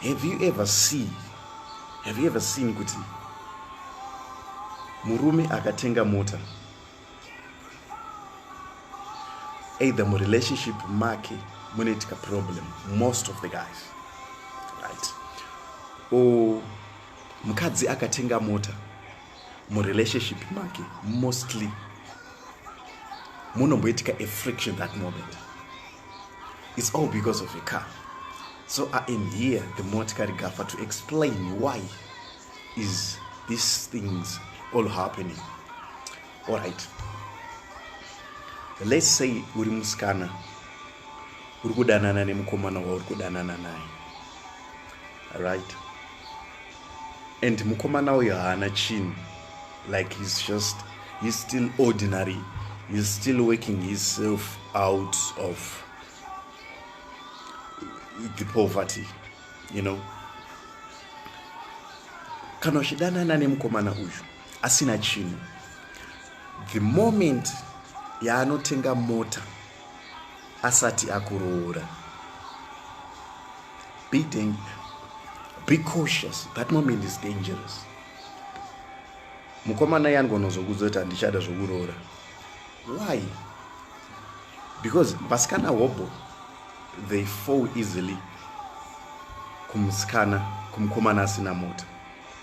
have you ever seen have you ever seen kuti murume akatenga mota either murelationship make munoitika problem most of the guys right or mukadzi akatenga mota murelationship make mostly munomboitika a friction that moment its all because of a car so i am here the motikari gafa to explain why is these things all happening all right let's say uri musikana uri kudanana nemukomana wauri kudanana naye right and mukomana uyo haana chinhu like he's just he's still ordinary he's still working himself out of the poverty you know kana uchidanana nemukomana uyu asina chinhu the moment yaanotenga mota asati akuroora be, be cautious that moment is dangerous mukomana iye angonozokudza kuti handichada zvokuroora why because vasikana hobho they fall easily kumusikana kumukomana asina mota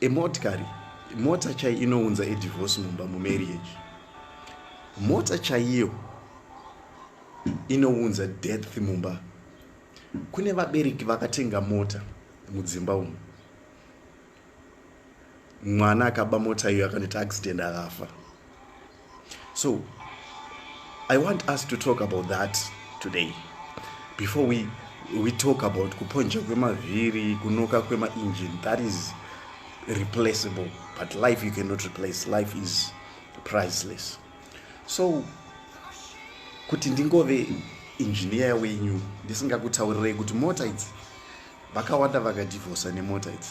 emotikari mota chai inounza edivorce mumba mumarriage mota chaiyo inounza death mumba kune vabereki vakatenga mota mudzimba umu mwana akaba mota iyo akaneta accident akafa so i want us to talk about that today before we, we talk about kuponja kwemavhiri kunoka kwemaengine that is replaceable but life you cannot replace life is priceless so kuti ndingove engineer wenyu ndisingakutaurirei kuti mota idzi vakawanda vakadivhosa nemota idzi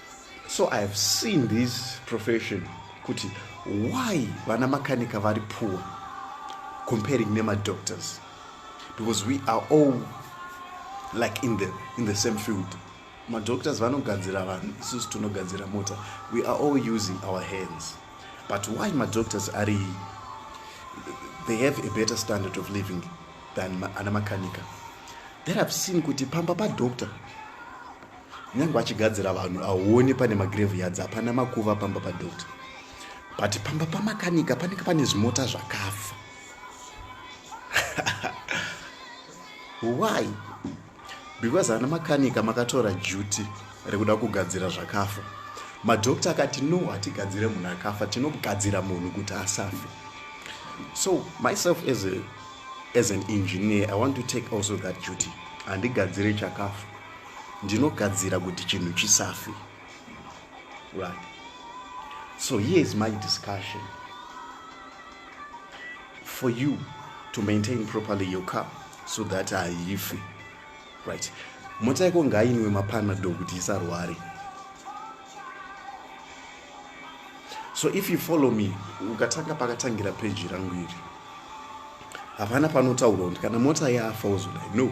So I have seen this profession kuti why vana makanika vari poor comparing nemadoctors because we are all like in the, in the same field madoctors vanogadzira vanhu isusu tinogadzira mota we are all using our hands but why madoctors ari they have a better standard of living than ana makanika that i've seen kuti pamba padoctor nyange achigadzira vanhu auone pane magrave yadzi hapana makuva pamba padoctor but pamba pamakanika panenge pane zvimota zvakafa why because ana makanika makatora duty rekuda kugadzira zvakafa madoctor akati no hatigadzire munhu akafa tinogadzira munhu kuti asafe so myself as, a, as an engineer i want to take also that duty handigadzire chakafa ndinogadzira kuti chinhu chisafi right so here is my discussion for you to maintain properly your car so that haifi right mota yako ngainwe mapanado kuti isarware so if you follow me ukatanga pakatangira peji rangu iri hapana panotaurwa kuti kana mota yafa uzoda no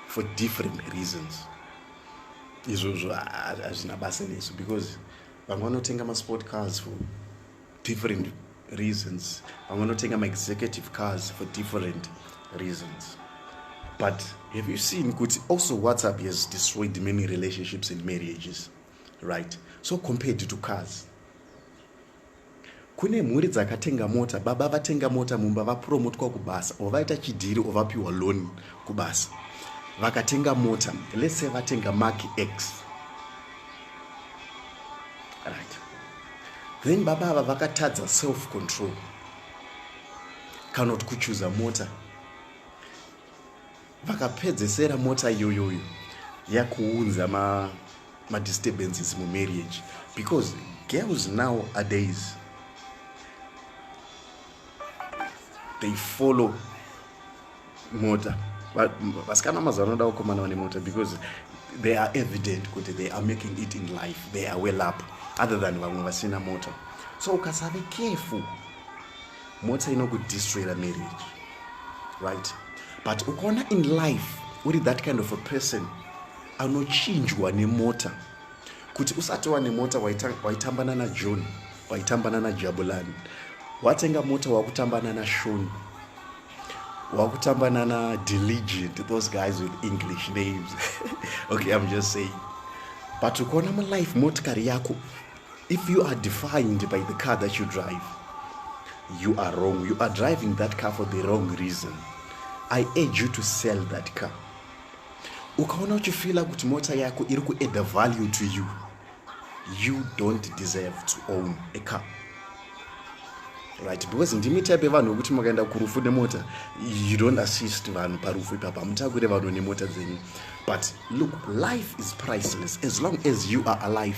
for different reasons izvozvo hazvina basa nesu because vamwe vanotenga masport cars for different reasons vamwe vanotenga maexecutive cars for different reasons but have you seen kuti also whatsapp has destroyed many relationships and marriages right so compared to cars kune mhuri dzakatenga mota baba vatenga mota mumba vapromotwa kubasa or vaita chidhiri or vapiwa loan kubasa vakatenga mota let's say vatenga mark x right then baba ava vakatadza self control kana kuti kuchuza mota vakapedzesera mota iyoyoyo yakuunza ma, ma disturbances mu marriage because girls now a days they follow mota vasikana mazuva anoda kukomana vane mota because they are evident kuti they are making it in life they are well up other than vamwe vasina mota so ukasave careful mota inokudistroyera marriage right but ukaona in life uri that kind of a person anochinjwa nemota kuti usati wane mota waitambana najohn waitambana najabulani watenga mota wakutambana nashoni wakutambana nadiligent those guys with english names okay i'm just saying but ukaona mulife motikari yako If you are defined by the car that you drive, you are wrong. You are driving that car for the wrong reason. I urge you to sell that car. Ukaona uchifila kuti mota yako iri kuadd value to you, you don't deserve to own a car. Right, because ndimi type yevanhu vekuti makaenda kurufu nemota you don't assist vanhu parufu ipapa hamutakure vanhu nemota dzenyu but look life is priceless as long as you are alive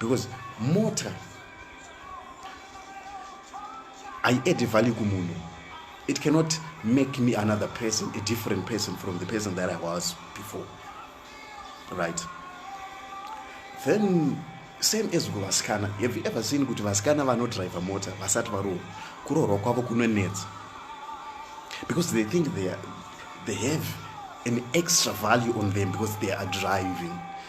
because mota i add value kumunhu it cannot make me another person a different person from the person that i was before right then same as kuvasikana have you ever seen kuti vasikana vanodriver mota vasati varoorwa kuroorwa kwavo kunonetsa because they think they, are, they have an extra value on them because they are driving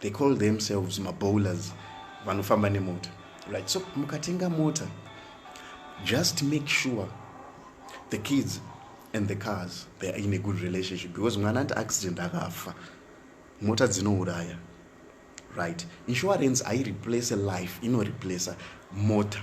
they call themselves mabowlers vanofamba nemota right so mukatenga mota just make sure the kids and the cars they are in a good relationship because mwana ati accident akafa mota dzinouraya right insurance aireplace life inoreplace mota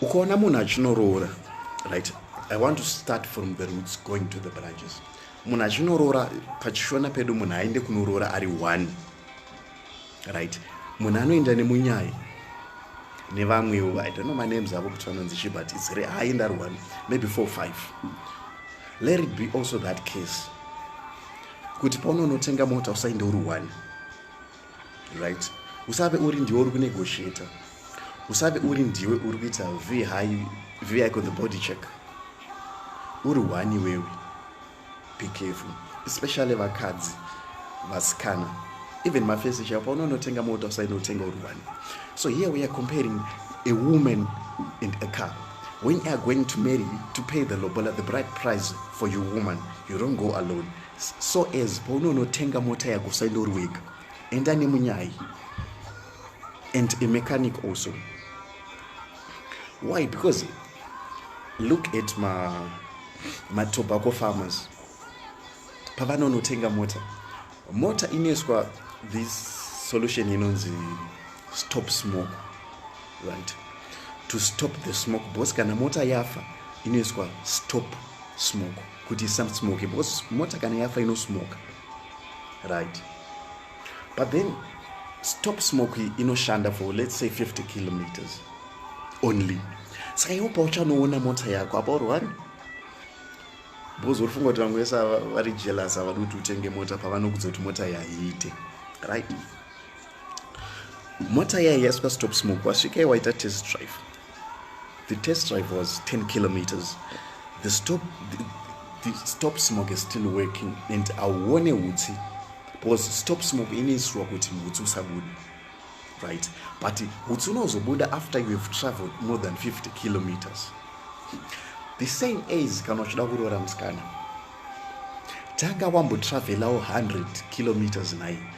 ukaona munhu achinoroora right i want to start from the roots going to the branches munhu achinoroora pachishona pedu munhu aende kunoroora ari one right munhu anoenda nemunyai nevamwewo i don't know my names avo kuti vanonzi chi but its aenda ari one maybe four five let it be also that case kuti paunonotenga mota usaende uri one right usave uri ndiwe uri kunegotiator usave uri ndiwe uri kuita vi vi icon the body check uri one iwewe be careful especially vakadzi vasikana even mafesi chaipo unonotenga mota usainotenga uri one so here we are comparing a woman and a car when you are going to marry to pay the lobola the bright price for your woman you don't go alone so as paunonotenga mota yako usaindori wega enda nemunyai and a mechanic also why because look at ma matobacco farmers pavanonotenga mota mota inoiswa this solution inonzi stop smoke right to stop the smoke bos kana mota yafa inoiswa stop smoke kuti isamsmoke because mota kana yafa inosmoka right but then stop smoke inoshanda for let's say 50 kilometers only saka iwo pauchanoona mota yako apa urwani because uri funga kuti vamwe vese vari jealous havadi kuti utenge mota pavanokudza kuti mota iyi haiite right mota yaiya yasvika stop smoke wasvikai waita test drive the test drive was 10 kilometers the stop, the, the stop smoke is still working and auone utsi because stop smoke inoisirwa kuti utsi usabude right but utsi unozobuda after you have traveled more than 50 kilometers the same as kana uchida kuroora musikana tanga wambotravelawo 100 kilometers nai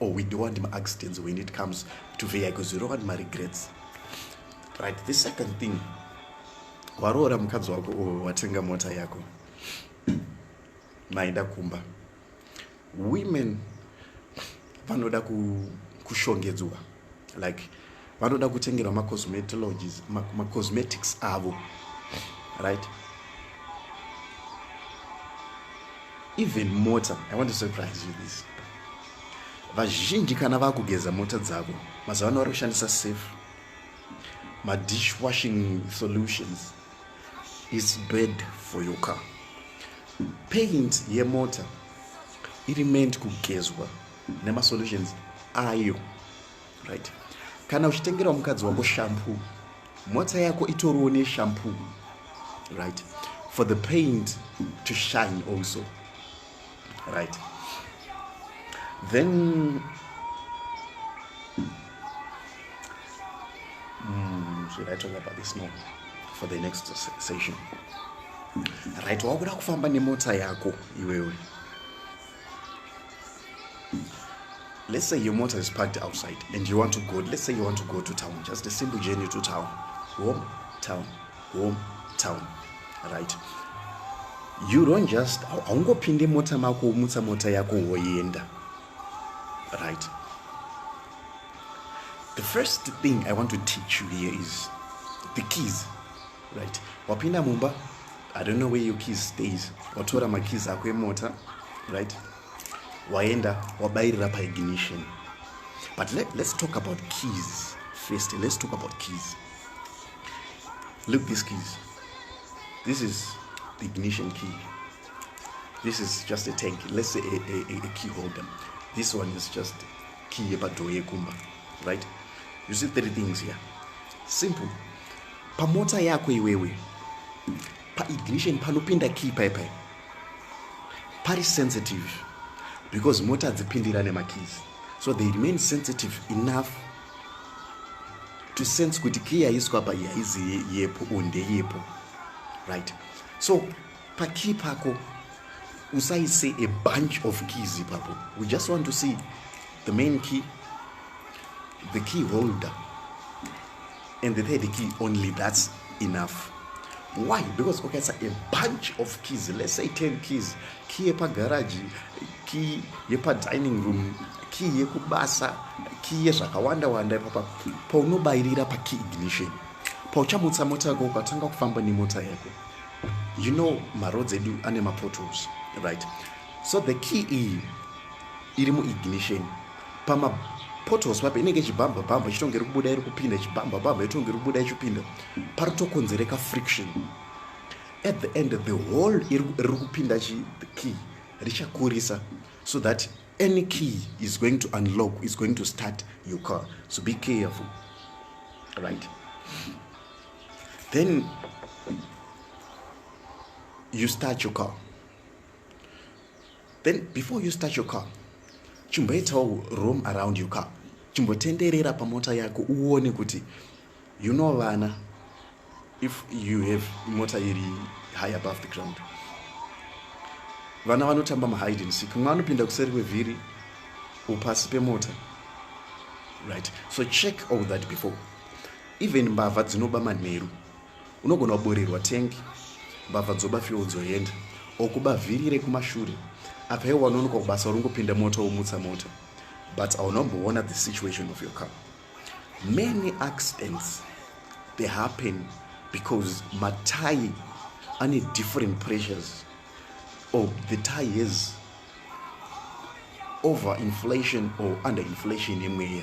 or we do and accidents when it comes to vehicle zero and my regrets right the second thing waroora mukadzi wako or watenga mota yako maenda kumba women vanoda kushongedzwa like vanoda kutengerwa macosmetologies macosmetics avo right even mota i want to surprise you this vazhinji kana vakugeza mota dzavo mazuva ano vari kushandisa safe madishwashing solutions is bad for your car paint yemota iri meant kugezwa nemasolutions ayo right kana uchitengerawo mukadzi wako shampoo mota yako itoriwo neshampoo right for the paint to shine also right then mm, should i talk about this no for the next session right wakuda kufamba nemota yako iwewe let's say your motor is parked outside and you want to go let's say you want to go to town just a simple journey to town home town home town right you don't just haungopinde mota mako womutsa mota yako woenda right the first thing i want to teach you here is the keys right wapinda mumba i don't know where your keys stays watora makeys ako emota right waenda wabayirira paignition but let, let's talk about keys first let's talk about keys look these keys this is the ignition key this is just a tank let's say a, a, a key holder this one is just key yepadhoo yekumba right you see three things here simple pamota yako iwewe paignition panopinda key pai pai pari sensitive because mota dzipindira nemakeys so they remain sensitive enough to sense kuti key yaiswa apa yaizi yepo or ndeyepo right so pakey pako usaise a bunch of keys ipapo we just want to see the main key the key holder and the third key only that's enough why because ukaisa okay, a bunch of keys let's say 10 keys key yepagaraji key yepadining room key yekubasa key yezvakawanda wanda ipapa paunobayirira pakey ignition pauchamutsa mota yako ukatanga kufamba nemota yako you know maroads edu ane mapotols right so the key iyi iri muignition pama potholes papi inenge ichibhambha bhambha ichitonge iri kubuda iri kupinda ichibhambha bhambha itonge iri kubuda ichipinda pari tokonzereka friction at the end the whole riri kupinda chi the key richakurisa so that any key is going to unlock is going to start your car so be careful right then you start your car then before you start your car chimboitawo room around your car chimbotenderera pamota yako uone kuti you know vana if you have mota iri high above the ground vana vanotamba mahide and seek mwe anopinda kuseri kwevhiri upasi pemota right so check all that before even mbavha dzinoba manheru unogona kuborirwa tank mbavha dzoba fuel dzoenda okuba vhiri rekumashure apa iwe wanonoka kubasa uringopinda mota womutsa mota but aunomboona the situation of your car many accidents they happen because matai ane different pressures or oh, the tie is over inflation or under inflation yemweya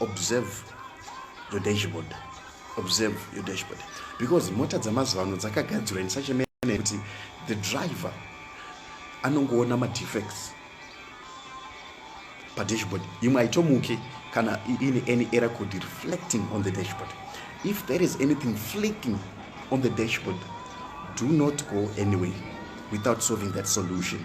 observe your dashboard observe your dashboard because mota dzamazuva ano dzakagadzirwa in such a manner yekuti the driver anongoona madefects padashboard imwe haitomuke kana ine any error could reflecting on the dashboard if there is anything flicking on the dashboard do not go anyway without solving that solution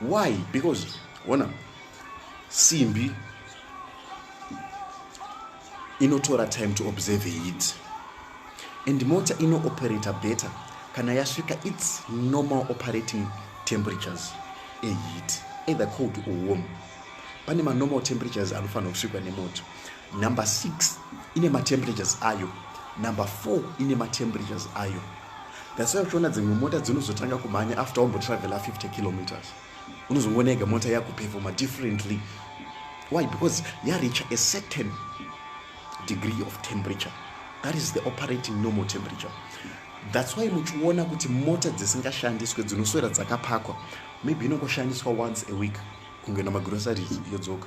why because ona simbi inotora time to observe heat and mota inooperator better kana yasvika its normal operating temperatures eheat either cold or warm pane manormal temperatures anofanira kusvikwa nemoto number six ine matemperatures ayo number four ine matemperatures ayo That's why uchiona dzimwe mota dzinozotanga kumhanya after wambotravela 50 kilometers. Unozongoona ega mota yakuperforma differently. Why? Because yareacha a certain degree of temperature. That is the operating normal temperature. That's why muchiona kuti mota dzisingashandiswe dzinoswera dzakapakwa. Maybe inongoshandiswa once a week kunge namagroceries yodzoka.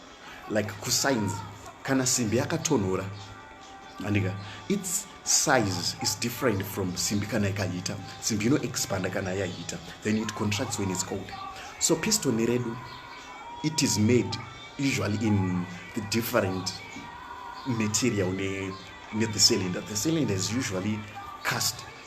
like kusigns kana simbi yakatonhora andika its size is different from simbi kana ikahita simbi ino expanda kana yahita then it contracts when its cold so piston redu it is made usually in the different material ne, ne the cylinder the cylinder is usually cast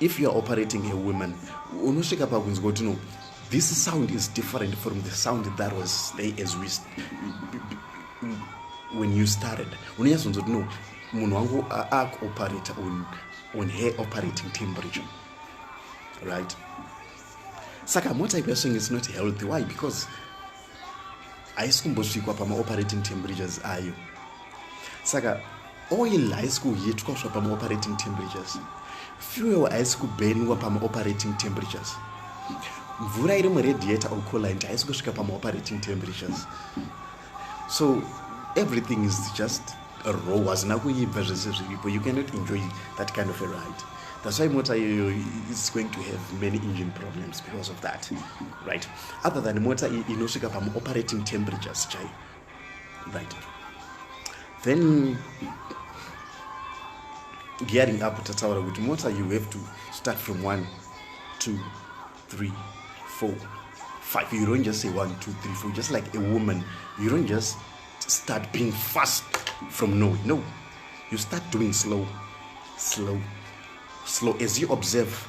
if youare operating a woman unosvika pakunzwa kuti no this sound is different from the sound that was stay as we when you started unonyatsonzwa kuti no munhu wangu akuoperate on, on her operating temperature right saka mota ikwesvenge is not healthy why because haisi kumbosvikwa pamaoperating temperatures ayo saka oil haisi kuhitwa kusva pamaoperating temperatures fuel haisi kubheniwa pamaoperating temperatures mvura iri muradiator or colant haisi kusvika pamaoperating temperatures so everything is just raw hazina kuibva zvese zviripo you cannot enjoy that kind of a ride that's why mota iyoyo is going to have many engine problems because of that right other than mota inosvika pamu operating temperatures chai right then gearing up tataura kuti mota you have to start from one two three four five you don't just say one two three four just like a woman you don't just start being fast from no no you start doing slow slow slow as you observe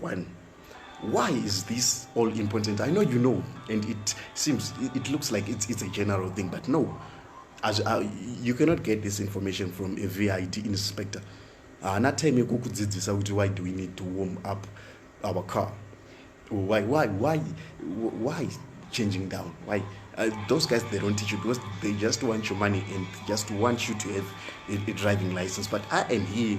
one why is this all important i know you know and it seems it looks like it's, it's a general thing but no as, uh, you cannot get this information from a vid inspector haana uh, time yekukudzidzisa kuti why do we need to warm up our car why why why why changing down why uh, those guys they don't teach you because they just want your money and just want you to have a, a driving license but i am here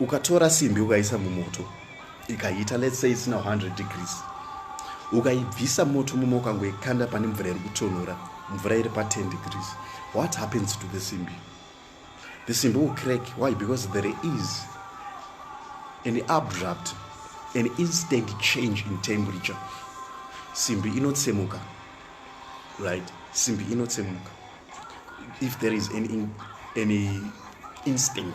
ukatora simbi ukaisa mumoto ikaita let's say isina 100 degrees ukaibvisa moto muma ukangoikanda pane mvura iri kutonhora mvura iri pa 10 degrees what happens to the simbi the simbi will crack why because there is an abrupt an instant change in temperature simbi inotsemuka right simbi inotsemuka if there is any, any instant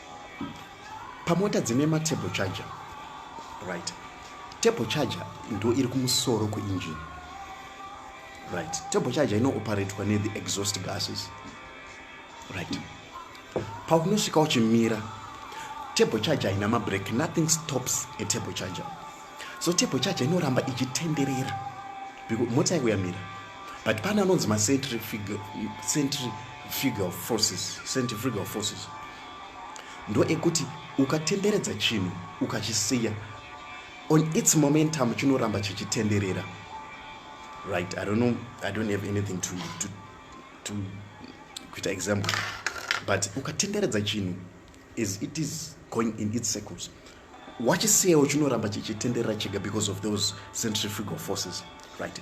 pamota dzine matable charger right table charger ndo iri kumusoro kuengine right table charger inooperatwa nethe exhaust gases right paunosvika uchimira table charger haina mabreak nothing stops a table charger so table charger inoramba ichitenderera because mota yako yamira but pane anonzi macentrifugal forces centrifugal forces ndo ekuti ukatenderedza chinhu ukachisiya on its momentum chinoramba chichitenderera right i don't know i don't have anything to, to, to kuita example but ukatenderedza chinhu is it is going in its circles wachisiyawo chinoramba chichitenderera chega because of those centrifugal forces right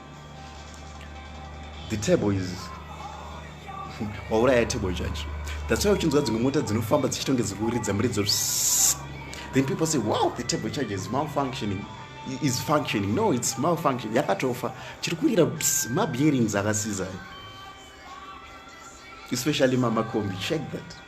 the table is wauraya table judge that's why uchinzwa dzimwe mota dzinofamba dzichitonge dzikuridza muridzo then people say wow the table charge is malfunctioning is functioning no its malfunction yakatofa chiri kurira mabearings akasiza especially mamakombi check that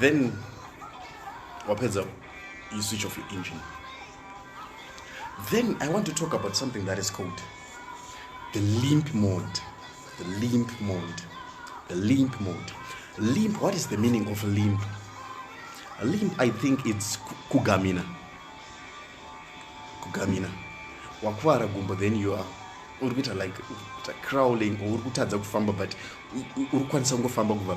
then wapedza you switch off your engine then i want to talk about something that is called the limp mode the limp mode the limp mode limp what is the meaning of limp limp i think it's kugamina kugamina wakuvara gumbo then you are uri kuita like crawling or uri kutadza kufamba but uri kukwanisa kungofamba kubva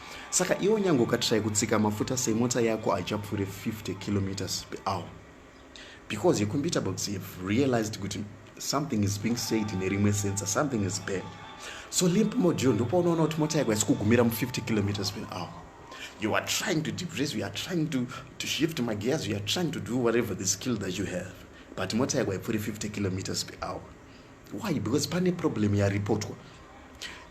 saka iwo nyange ukatrai kutsika mafuta sei mota yako haichapfuure 50 kilometers per hour because your computer box have realized kuti something is being said in a rimwe sensor something is bad so limp module ndopaunoona kuti mota yako yasikugumira mu50 kilometers per hour you are trying to depress you are trying to, to shift my gears you are trying to do whatever the skill that you have but mota yako haipfuuri 50 kilometers per hour why because pane problem yareportwa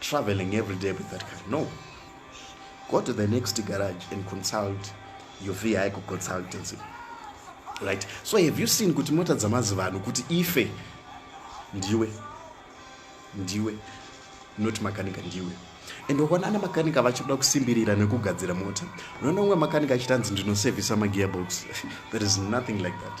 traveling every day with that car no go to the next garage and consult your vehicle consultancy right so have you seen kuti mota dzamazivanhu kuti ife ndiwe ndiwe not makanika ndiwe and wakaona ana makanika vachikuda kusimbirira nekugadzira mota unoona umwe makanika achitanzi ndinosevhisa magearbox there is nothing like that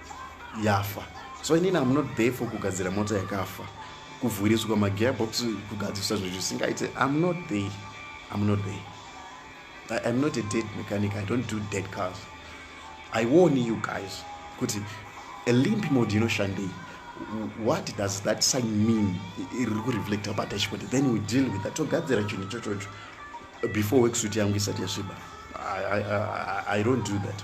yafa so inini am not there for kugadzira mota yakafa kuvhuriswa magearbox kugadzirisa zvinhu zvisingaite am not there am not there I, i'm not a dead mechanic i don't do dead cars i warn you guys kuti a limp mode inoshandei what does that sign mean iri kureflecta padashboard then we deal with that togadzira chinhu ichochocho before worksuit yangu isati yasviba I, I, I, i don't do that